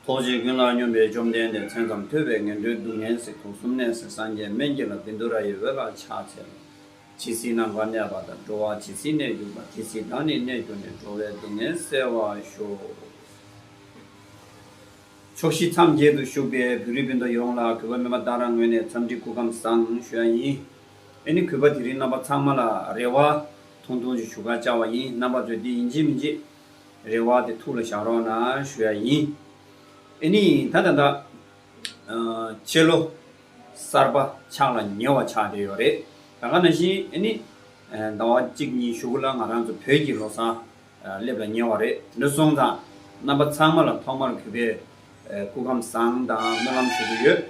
ཐོགས་བྱས་ཀུན་ལ་སྙོམས་པའི་བཅོམ་ལྡན་འདས་མཚན་ཙམ་ཐོས་པས་ངན་འགྲོའི་སྡུག་བསྔལ་གཟིགས་ཐོག་གསུམ་གནས་སའི་སངས་རྒྱས་སྨན་གྱི་ལ་བིནྡུ་ར་ཡི་འོད་ལ་ཕྱག་འཚལ། ཇི་སྲིད་ནམ་མཁའ་གནས་པ་དང་འགྲོ་བ་ཇི་སྲིད་གནས་གྱུར་པ་དེ་སྲིད་བདག་ནི་གནས་གྱུར་ནས་འགྲོ་བའི་སྡུག་བསྔལ་བསལ་བར་ཤོག། ཕྱོགས་བཞི་མཚམས་བརྒྱད་དུ་བཞུགས་པའི་བེ་རི་བིནྡུ་ཡོངས་ལ་གུས་པ་མོས་པ་བདག་རང་ངོས་ནས་འཚམས་འདྲི་སྐུ་ཁམས་བཟང་ཞུ་ཡ་ཡིན། ཨེ་ནི་གུས་པ་དེ་རིང་རྣམ་པ་ཚང་མ་ལ་རེ་བ། ཐུང་ཐུང་ཅིག་ཞུ་ཁ་བཅའ་བ་ཡིན་རྣམ་པ་ཚོས་འདི་ཡིན་གྱི་མིན་གྱི། རེ་བ་དེ་ཐུགས་ལ་བཞག་རོགས་གནང་ཞུ་ཡ་ཡིན། ཨེ་ནི་ད་ད་ད། སྤྱི་ལོ་གསར་པ་ཕྱག་ལ་ཉེ་བ་ཆགས་བསྡད་ཡོད་རེད། ད་ག་ནང་བཞིན་ཨེ་ནི། ཟླ་བ་གཅིག་གཉིས་བཞུགས་ལ་ང་རང་ཚོ་བོད་ཀྱི་ལོ་བཟང་སླེབས་ལ་ཉེ་བ་རེད་དེ་འདྲ་སོང་ཙང་རྣམ་པ་ཚང་མ་ལ་ཐོག་མར་གུས་པའི་སྐུ་ཁམས་བཟང་དང་སྨོན་ལམ་ཞུ་གི་ཡོད།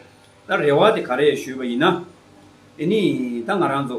ད་རེ་བ་དེ་ག་རེ་ཞུས་པ་ཡིན་ན། ཨེ་ནི་ད་ང་རང་ཚོ།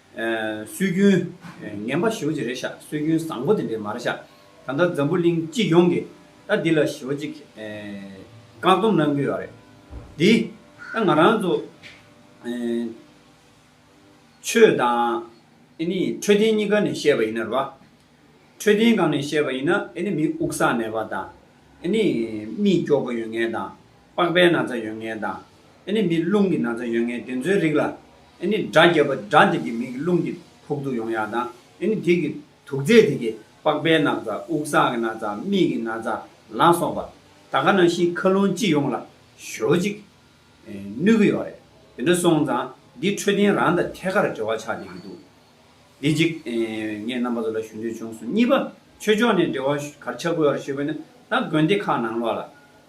སྲོལ་རྒྱུན། ངན་པ་ཞོ་གཅིག་རེ་བཞག་སྲོལ་རྒྱུན་བཟང་པོ་དེ་འདྲས་མར་བཞག་ད་ལྟ་འཛམ་བུ་གླིང་སྤྱི་ཡོངས་ཀྱི་ད་འདི་ལ་ཞོ་གཅིག་བཀག་སྡོམ་གནང་གི་ཡོད་རེད་དེ། ད་ང་རང་ཚོ་ཆོས་དང་འཕྲོད་བསྟེན་གཉིས་ཀ་ནས་བཤད་པ་ཡིན་ན་རེད་བ། འཕྲོད་བསྟེན་གང་ནས་བཤད་པ་ཡིན་ན་མི་དབུགས་བསགས་མེད་པ་དང། རྨིས་སྐྱོག་པོ་ཡོད་ངེས་དང། པགས་པའི་ན་ཚ་ཡོད་ངེས་དང། ནི་མིའི་རླུང་གི་ན་ཚ་ཡོད་ངེས་དེ་ཚོའི་རིགས་ལ། ནི་དགྲ་བརྒྱད་པོ་དགྲ་འདི་ཀྱི་མིག་གི་རླུང་གི་ཕུག་ཏུ་ཡོང་ཡག་དང། ནི་དེ་ཀྱི་དུག་རྫས་དེ་ཀྱི་པགས་པའི་ན་ཚ་དབུགས་སངས་ཀྱི་ན་ཚ་མིག་གི་ན་ཚ་ལ་སོགས་པ། ད་ག་ནང་བཞིན་མཁའ་རླུང་སྤྱི་ཡོངས་ལ་ཞོ་ཅིག། ནུས་ཀྱི་ཡོག་རེད། དེ་འདྲ་སོང་ཙང་འདི་འཕྲོད་བསྟེན་རང་དང་ཐད་ཀར་འབྲེལ་བ་ཆགས་བསྡད་ཀྱི་འདུག་དེ་གཅིག། ངས་རྣམ་པ་ཚོ་ལ་ཞུ་འདོད་བྱུང་སོང་གཉིས་པ། ཆོས་ཕྱོགས་ནས་འབྲེལ་བ་གར་ཆགས་དགོས་ཡག་རེད་ཞུས་པ་ནི་ད་དགོན་སྡེ་ཁག་ནང་ལོགས་ལ།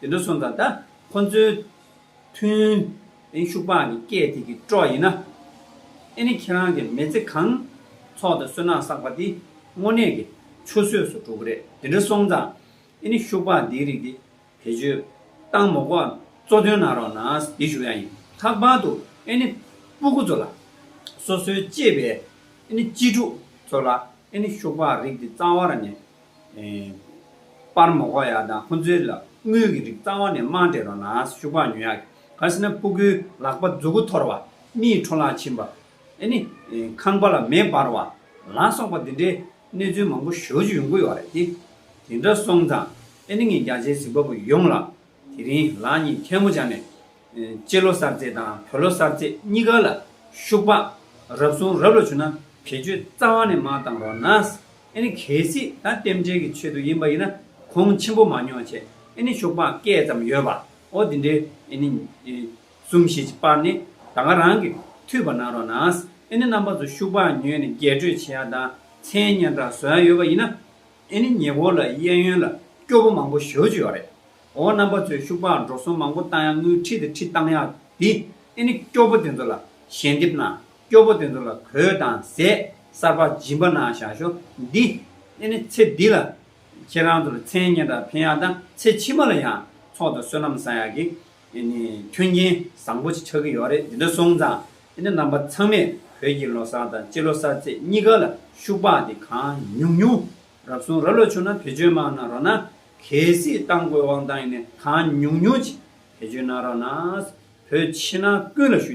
དེ་འདྲ་སོང་ཙང་ད་ཁོང་ཚོའི་མཐུན། དེང་ཤུག་པགས་ནི་སྐད་དེ་གི་སྤྲོ་ཡིན་ན། ཨེ་ནི་ཁྱེད་རང་གི་མེ་ཚེ་གང། ཚོགས་དང་བསོད་ནམས་བསགས་པ་དེ་དངོས་གནས་ཀྱི་ཆུ་ཟོས་སུ་འགྲོ་གི་རེད་དེ་འདྲ་སོང་ཙང་ཨེ་ནི་ཤུག་པགས་འདིའི་རིགས་དེ་བེད་སྤྱོད་སྟངས་མོ་ཀོ་གཙོ་དོན་གནང་རོགས་གནང་འདི་ཞུ་ཡང་ཡིན་ལྷག་པར་དུ་ཨེ་ནི་སྤུ་གུ་ཚོ་ལ་སོ་སོའི་གཅེས་པའི་ཨེ་ནི་གཅེས་ཕྲུག་ཚོ་ལ་ཨེ་ནི་ཤུག་པགས་རིགས་འདི་གཙང་བར་ནས་པར་མོ་ཁོག་ཡག་དང་ཁོ་ཚོའི་ལག་དངུལ་གྱི་རིགས་རྩ་བ་ནས་རྨང་བྲལ་རོགས་ནས་ཤུག་པགས་ཉོ་ཡག་ག་ཟེར་ན་སྤུ་གུའི་ལག་པ་མཛུ་གུ་འཐོར་བ་མིའི་འཕྲོ་ལག་ཕྱིན་པ་ཨེ་ནི་ཁང་པ་ལ་མེ་འབར་བ་ལ་སོགས་པ་འདི་འདྲའི་གནས་ཚུལ་མང་པོ་ཞོར་ཞུ་ཡོང་གི་ཡོད་རེད་དེ་འདྲ་སོང་ཙང་ཨེ་ནི་ངས་རྒྱ་ཆེའི་གཟིགས་པ་པོ་ཡོངས་ལ་དེ་རིང་ལགས་གཉིས་མཁན་མོ་བྱ་ནས། སྤྱི་ལོ་གསར་ཚེས་དང་བོད་ལོ་གསར་ཚེས་གཉིས་ཀ་ལ་ཤུག་པགས་རབ་སོང་རབ་ལ་བྱུང་ན་བེད་སྤྱོད་རྩ་བ་ནས་མ་བཏང་རོགས་ན། ཨེ་ནི་གལ་སྲིད་ད་རྟེན་འབྲེལ་གྱི་ཆེད་དུ་ཡིན་པ་ཡིན་ན་གོང་ཆེན་པོ་མ་ཉོ་བྱེད་ཨེ་ནི་ཤུག་པགས་སྐད་ཙམ་ཡོད་པ་འོ་དེ་འདྲའི་ཨེ་ནི་གསུམ་བཞི་ཅིག་སྤར་ནས་ད་སྔ་རང་གི་འཐུས་པ་གནང་རོགས་ན། ཨེ་ནི་རྣམ་པ་ཚོ་ཤུག་པགས་ཉོས་ནས་རྒྱས་སྤྲོས་བྱེད་ཡ་དང་མཚན་སྙན་གྲགས་བཟོ་ཡ་ཡོད་པ་ཡིན་ན། ཨེ་ནི་ཉེ་འཁོར་ལ་གཡས་གཡོན་ལ་སྐྱོ་པོ་མང་པོ་ཞོ་བཅུ་ཡོད་རེད། འོ་རྣམ་པ་ཚོས་ཤུག་པའང་འགྲོ་སོང་མང་པོ་བཏང་ཡ་དངུལ་ཁྲི་དེ་ཁྲི་བཏང་ཡ་དེ་ཨེ་ནི་སྐྱོ་པོ་དེ་ཚོ་ལ་ཞལ་འདེབས་གནང་སྐྱོ་པོ་དེ་ཚོ་ལ་གོས་དང་ཟས་གསར་པ་སྦྱིན་པ་གནང་བཞག་ཞོ་འདི་ཨེ་ནི་ཚེ་འདི་ལ་ཁྱེད་རང་ཚོར་མཚན་སྙན་གྲགས་འཕེན་ཡ་དང་ཚེ་ཕྱི་མ་ལ་ཡང་ཚོགས་དང་བསོད་ནམས་བསགས་ཡ་གི་ཨེ་ནི་མཐུན་རྐྱེན་བཟང་པོ་ཆགས་ཀྱི་ཡོད་རེད་འདི་འདྲ་སོང་ཙང་དེ་ནི་རྣམ་པ་ཚང་མས་བོད་ཀྱི་ལོ་གསར་དང་ཕྱི་ལོ་གསར་ཚེས་གཉིས་ཀ་ལ་ཤུག་པགས་དེ་གང་ཉུང་ཉུང་རག་སོང་ར་ལོ་ཆུང་ན་བེད་སྤྱོད་མང་ན་རོགས་ན་གལ་སྲིད་ཏང་དགོས་དབང་ཏང་ཡིན་ནས་གང་ཉུང་ཉུང་ཅིག་བེད་སྤྱོད་གནང་རོགས་ན་བོད་ཕྱི་ནང་ཀུན་ལ་ཞུ།